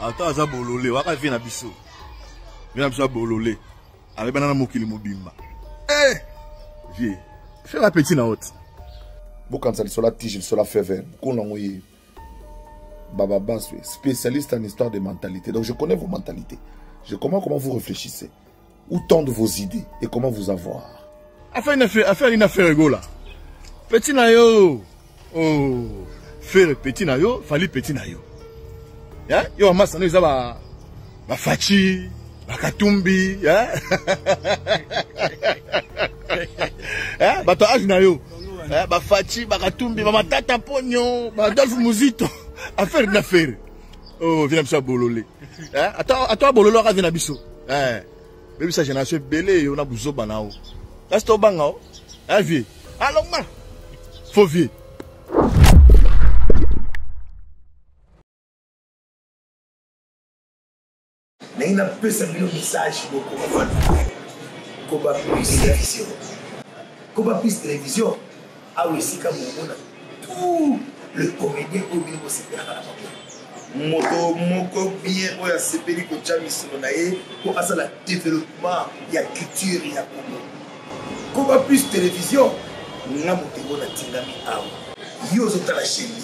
ata aza bolole waka vie na biso vie na biso ya bolole abebana na mokili mobimba eh! vie fais la petit na haute bokanisa lisola tige lisola fever bokolo yango ye baba baswe spécialiste en histoire de mentalité donc je connais vos mentalités je comprends comment vous réfléchissez Où tendent vos idées et comment vous avoir Affaire une affaire, affaire une affaire ego là. Petit nayo. Oh, faire petit nayo, fallait petit nayo. Hein? Yo amasa no eza ba ba fachi, ba katumbi, hein? hein? Bato âge nayo. Hein? Ba fachi, ba katumbi, ba matata ponyo, ba Adolphe Muzito. Affaire une affaire. oh vie na biso ya bolole eh, ata ata abolole waka vie na biso eh, bebisa génération ebele yo na buzoba na yo kasi tobanga o eh, vie alongma ah, faux vie naye napesa bino message bokomafana koba plus television koba plus television awa esika momona tout le comédien oyo bino bosepelaka na bango moto moko bien oyo asepeli kotya misolo na ye mpo asala développement ya culture ya congo koba plus television nga moto yango natingami awa yo ozotala sheni